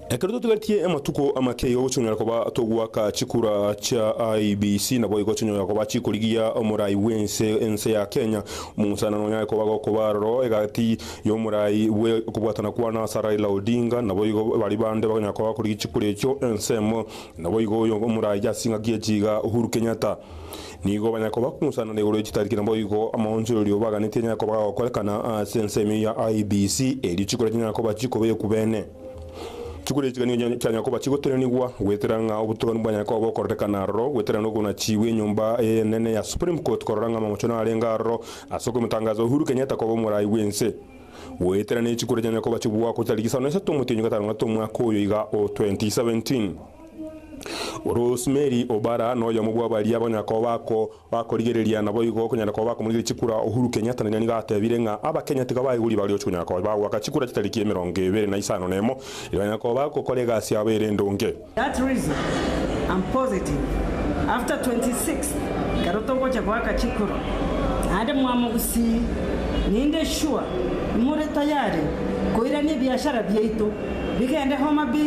Ekero totigaretie amatuko amake igo gochonyora koba togoaka chikura chia IEBC naboigo chinyora koba chikorigia omorai bw'ense ense ya Kenya. Omong'usanano onyare koba gokoba aroro egati y'omorai bwe okobwatana kwa Nasser Raila Odinga naboigo baria bande bakonyara koba bakorigia chikura echio ensemo naboigo oyo omorai ase engaki echi iga Uhuru Kenyatta. Nigo banya koba kunsanana igoro ye chitariki naboigo amaonchorerio obaganetie anyare koba gagokorekana ase ensemo eye ya IEBC erio chikura chinyara koba chikoba ekubene. Chikura echi gani nigo chianya koba chigotenenigwa goetera ng'a obotogani bwanyare koba bokororekana aroro goetera ng'a okonachiwa enyomba eye enene ya Supreme Court korora ng'a amamocho narenge aroro ase okomotangaza Uhuru Kenyatta koba omorai bw'ense goetera nechikura chinyare koba chibwakwa chitariki isano na isato omotienyi gatano na gatano omwaka oyo iga o 2017. Rosemary Obara noyomo bwa baria banyala koba bako bakorigereria naboigo konyara koba bakomorigeria chikura Uhuru Kenyatta nere nigo atebire ng'a abakenya tiga baiguri baroche konyara koba bagoaka chikura chia tariki emerongo ebere na isano nemo erio banyara koba bagokora egasi yabo ere endonge. That reason am positive after 26th ekero togocha goaka chikura naende mwamo gusii ninde sure nimore tayari koirania ebiashara biaito bigende Homa Bay.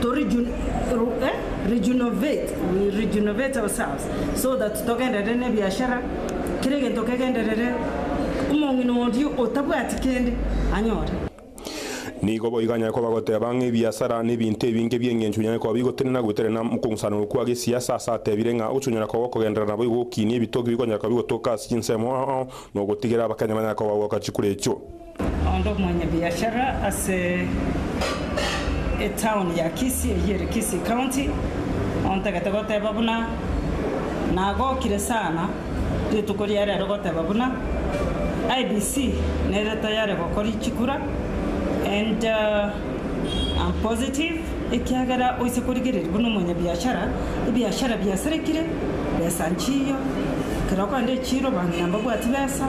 to rejunovate ourselves so that togenderere nebiashara kera egento kegenderere omong'ina oria otabwati kende anyore. Nigo boigo anyare koba goteba ng'a ebiasara nebinto ebinge bi'engencho binyare koba bigotenena gweterana mokogusanerwa kwa gesiasa ase atebire ng'a ochonyora koba okogenderera naboigo gokiinia ebitoki bikonyara koba bigotoka ase chinsemo ao nogotigera abakenya banyare koba bagoka chikura echio. Onde omwanyabiashara ase etown ya Kisii eyio ere Kisii County ontagete goteba buna nagokire sana rituko ria rero goteba buna IEBC nere tayari gokori chikura and I'm positive ekiagera oise korigereria buna omwanyabiashara ebiashara biasarekire besa nchiyo ekero okogenda echiiro banto nababwati besa.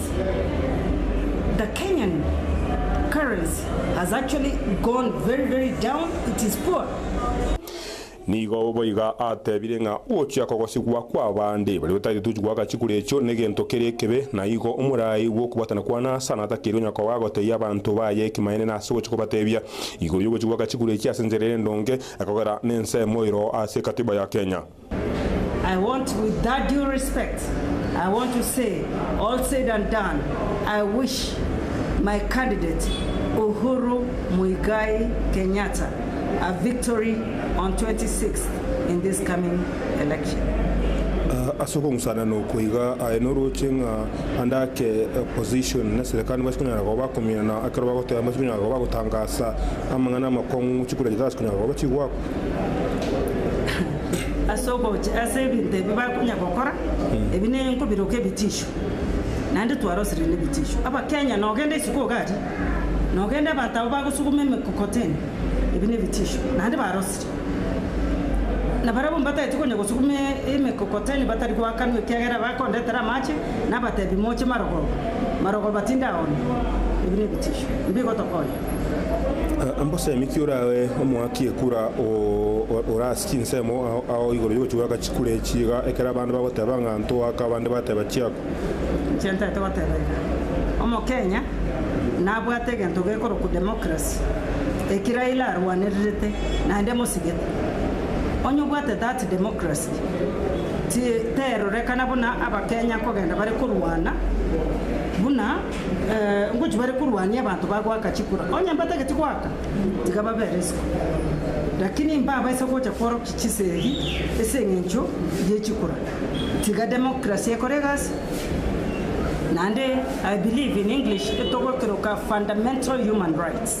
The Kenyan currency has actually gone very very down, it is poor. Nigo boiga atebire ng'a ogochia kogosigwa kw'abande baria bataete tochi goaka chikura echio negento kere ekebe, na igo omorai bw'okobwatana kwa Nasa natakire onye koba agotebia abanto baye ekimaene nase ogochia kobatebia igoro y'ogochia goaka chikura echio ase enchera ere endonge, ekogera nensemo ero ase ekatiba ya Kenya. Ase okong'usana nokwo iga, aye norooche ng'a ande ake opposition na serekari nbase konyara koba bakominana ekero bagoteba nbase konyara koba bagotangasa amang'ana amakong'u chikura chitase konyara koba chigoakwa. ase ogocha ase ebinto ebi bakonya gokora, ebi ne nkobiroka ebitisho, naende twarosire nebitisho. Abakenya nogende isiko iga aria, nogende abanto abwo bagosuguma emekokoteni, ebi nebitisho, naende barosire. Na barabwo mbatagete konya gosuguma emekokoteni batari goakanwa ekiagera bakondetera amache, nabatebi moche marogoba, marogoba tinde aonye, ebi nebitisho, mbigotokonya. Mbosemi ki orae omoaki ekura ore ase chinsemo ao igoro y'ogochia goaka chikura echi iga ekero abande bagoteba ng'a ntoaka abande bateba chiakwa. Inche ntaete goteba iga. Omokenya nabwate egento gekorokwa democracy eki Raila arwanererete naende mosigete. Onye obwate that democracy terorekana buna abakenya kogenda bare korwana buna. Ngochie bare korwania abanto bagoaka chikura, onye mbatageti goaka, tiga babere isiko. Lakini mbabaisa gocha kworokia chisegi ase engencho ye chikura. Tiga democracy ekore egasi, naende I believe in English etogokeroka fundamental human rights.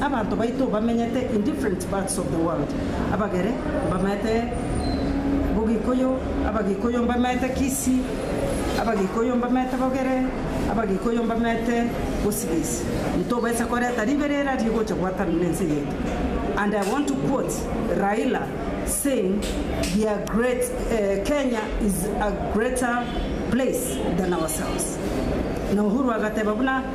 Abanto baito bamenyete in different parts of the world, abagere mbamanyete bogikuyu, abagikuyu mbamanyete kisii, abagikuyu mbamanyete bogere, abagikuyu mbamanyete bosigisi, ntobaisa koreta riberera rigocha gwatanana nense yaito and I want to quote Raila saying we are great Kenya is a greater place than ourselves na Uhuru agateba buna